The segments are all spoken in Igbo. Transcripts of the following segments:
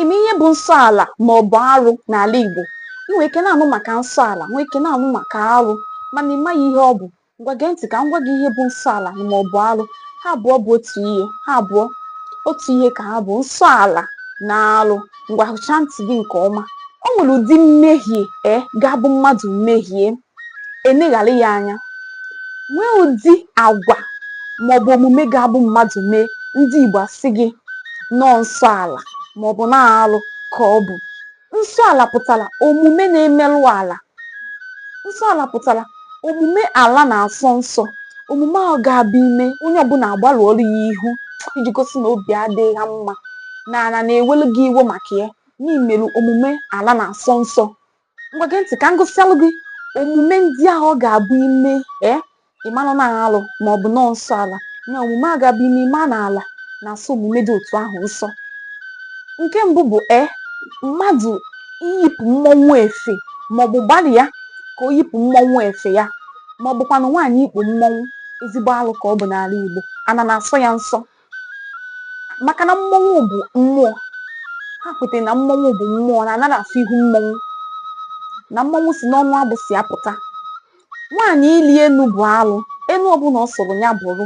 ime ihe bụ nsọ ala ma ọ bụ arụ n'ala Igbo ị nwere ike na-anụ maka nsọ ala nwee ike na-anụ maka arụ mana ị maghị ihe ọ bụ ngwa gee ntị ka m gwa gị ihe bụ nsọ ala ma ọ bụ arụ ha abụọ bụ otu ihe ha abụọ otu ihe ka ha bụ nsọ ala na arụ ngwa hichaa ntị gị nke ọma o nwere ụdị mmehie e ga-abụ mmadụ mehie eneghara ya anya nwee ụdị agwa maọbụ omume ga-abụ mmadụ mee ndị Igbo asị gị na ọọ nsọ ala maọbụ na alụ ka ọ bụ nsọ ala pụtara omume na-emerụ ala nsọ ala pụtara omume ala na-asọ nsọ omume a ga-abụ i mee onye ọbụla agbarụọrọ ya ihu iji gosi na obi adịghị ha mma na ala na-ewelu gị iwe maka ya na i melu omume ala na-asọ nsọ ngwa gee ntị ka m gụsịalụ gị omume ndị ahụ ọ ga-abụ i mee ịmanụ na alụ ma ọ bụ na ọọ nsọ ala na omume a ga-abụ i mee ị ma na ala na-asọ omume dị otu ahụ nsọ nke mbụ bụ e mmadụ iyipụ mmọnwụ efe maọbụ gbalịa ka o yipụ mmọnwụ efe ya ma ọ bụkwanụ nwaanyị ikpu mmọnwụ ezigbo alụ ka ọ bụ n'ala Igbo ana na-asọ ya nsọ maka na mmọnwụ bụ mmụọ ha kwetara na mmọnwụ bụ mmụọ na anaghị afụ ihu mmọnwụ na mmọnwụ si n'ọnụ agbụsị apụta nwaanyị ịlị enu bụ alụ enu ọbụla ọ sọrọ ya bụrụ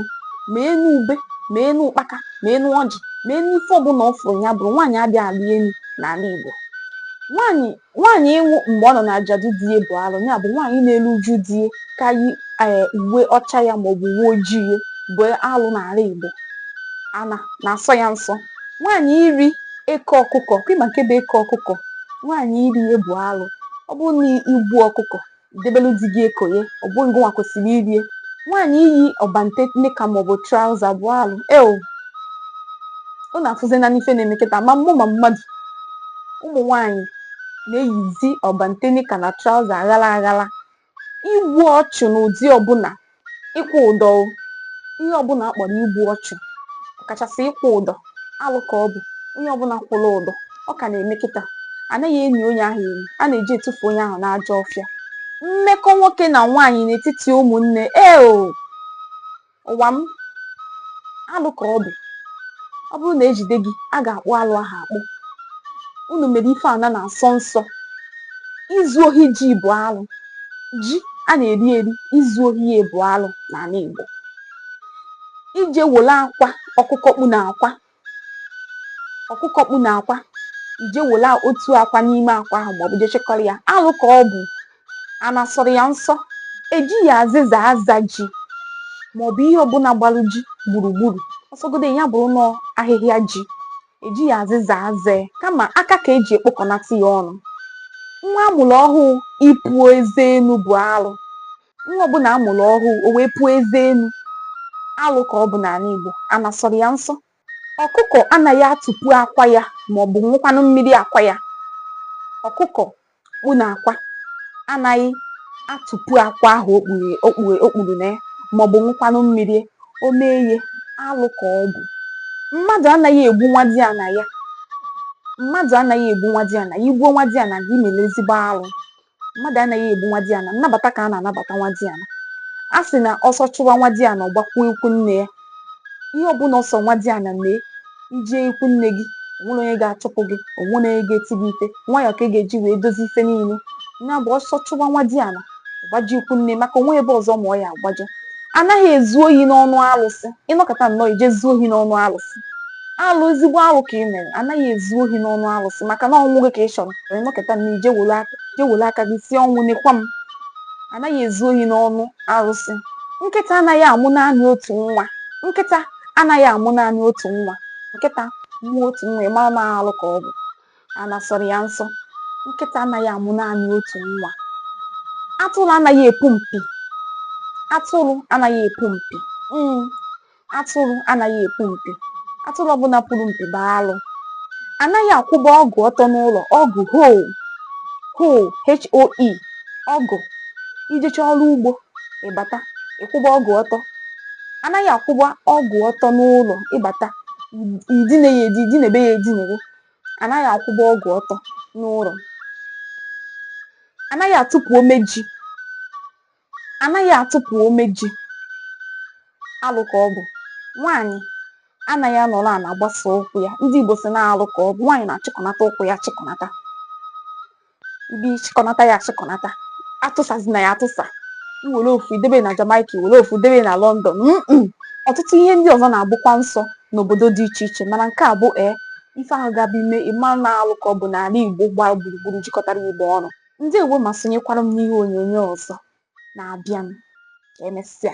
ma enu ube ma enu ụkpaka ma enu ọjị ma enu ife ọbụla ọ fụrụ ya bụrụ nwaanyị adịghị alị enu n'ala Igbo nwaanyị Nwaanyị ịnwụ mgbe ọ nọ n'ajadu di ya bụ arụ, ya bụ nwaanyị na-eru uju di ya ka yi ee uwe ọcha ya maọbụ uwe ojii ya bụ arụ n'ala Igbo. Ana na-asọ ya nsọ. Nwaanyị iri eke ọkụkọ, kwa ị ma nke bụ eke ọkụkọ, nwaanyị iri ya bụ arụ. Ọ bụrụ na i gbuo ọkụkọ, debelu di gị eko ya ọ bụghị gịnwa kwesịrị iri ya nwaanyị iyi ọbante nika maọbụ trauza bụ alụ eo ọ na-afụzi na n'ife na-eme kịta ma mmụọ ma mmadụ ụmụ nwaanyị na-eyizi ọbante nika na trauza aghara aghara igbu ọchụ n'ụdị ọbụla ịkwụ ụdọ ihe ọbụla akpọrọ igbu ọchụ kachasị ịkwụ ụdọ alụ ka ọ bụ onye ọbụla kwụrụ ụdọ ọ ka na-eme kịta anaghị eni onye ahụ eni a na-eje etufu onye ahụ n'ajọ ọfịa mmekọ nwoke na nwaanyị n'etiti ụmụnne ee ụwa m alụ ka ọ bụ ọ bụrụ na ejide gị a ga-akpụ alụ ahụ akpụ unu mere ife ana na-asọ nsọ izu ohi ji bụ alụ ji a na-eri eri izu ohi ya bụ alụ n'ala Igbo ije wolu akwa ọkụkọ kpu n'akwa ọkụkọ kpu n'akwa ije wolu otu akwa n'ime akwa ahụ maọbụ je chịkọrọ ya alụ ka ọ bụ a na-asọrọ ya nsọ ejighi azịza aza ji maọbụ ihe ọbụla gbalụ ji gburugburu ọ sọgodu ya bụrụ na ọ ahịhịa ji ejighị azịza aza kama aka ka eji ekpokọnata ya ọnụ nwa amụrụ ọhụụ ịpụ eze enu bụ alụ nwa ọbụla amụrụ ọhụụ o wee pụọ eze enu alụ ka ọ bụ n'ala Igbo a na-asọrọ ya nsọ ọkụkọ anaghị atụpu akwa ya ma ọ bụ ṅụkwanụ mmiri akwa ya ọkụkọ kpu n'akwa anaghị atụpu akwa ahụ o kpuru na ya maọbụ ṅụkwanụ mmiri ya o mee ya alụ ka ọ bụ mmadụ anaghị egbu nwadiana ya mmadụ anaghị egbu nwadiana ya i gbuo nwadiana gị i mere ezigbo alụ mmadụ anaghị egbu nwadiana nnabata ka a na-anabata nwadiana a sị na ọsọ chụwa nwadiana ọ gbakwuo ikwu nne ya ihe ọbụla ọ sọ nwadiana mee i jee ikwu nne gị o nwerọ onye ga-achụpụ gị o nwerọ onye ga-eti gị ife nwayọ ka ị ga-eji wee dozi ife niile ya bụ ọsọ chụwa nwadiana gbaje ikwu nne maka o nwe ebe ọzọ ma ọ ya-agbaje anaghị ezu ohi n'ọnụ alụsị ị nọkata nnọọ i je zuo ohi n'ọnụ alụsị alụ ezigbo alụ ka ị mere anaghị ezu ohi n'ọnụ alụsị maka na ọnwụ gị ka ị chọrọ ị nọkata nnọọ i je were aka gị sị ọnwụ nekwa m anaghị ezu ohi n'ọnụ arụsị nkịta anaghị amụ naanị otu nwa nkịta anaghị amụ naanị otu nwa nkịta mụọ otu nwa ị mara na alụ ka ọ bụ a na-asọrọ ya nsọ nkịta anaghị amụ naanị otu nwa atụrụ anaghị epu mpi atụrụ anaghị epu mpi mm. atụrụ anaghị epu mpi atụrụ ọbụla puru mpi bụ alụ anaghị akwụba ọgụ ọtọ n'ụlọ ọgụ hoe hoe hoe ọgụ i jecha ọrụ ugbo ị bata ị kwụba ọgụ ọtọ anaghị akwụba ọgụ ọtọ n'ụlọ ị bata i dine ya edi i dinebe ya edinebe anaghị akwụba ọgụ ọtọ n'ụlọ anaghị atụpụ ome ji anaghị atụpụ ome ji alụ ka ọ bụ nwaanyị anaghị anọrọ ala gbasa ụkwụ ya ndị Igbo sị na alụ ka ọ bụ nwaanyị na-achịkọnata ụkwụ ya achịkọnata ị chịkọnata ya achịkọnata atụsazina ya atụsa i were ofu debe na Jamaica i were ofu debe na London ọtụtụ ihe ndị ọzọ na-abụkwa nsọ n'obodo dị iche iche mana nke a bụ ee eh, ife ahụ gaba ime ị ma na alụ ka ọ bụ n'ala Igbo gbaa gburugburu jikọtara Igbo ọnụ Ndewo ma sonyekwara m n'ihe onyonyo ọzọ na-abịanụ. Ka emesịa.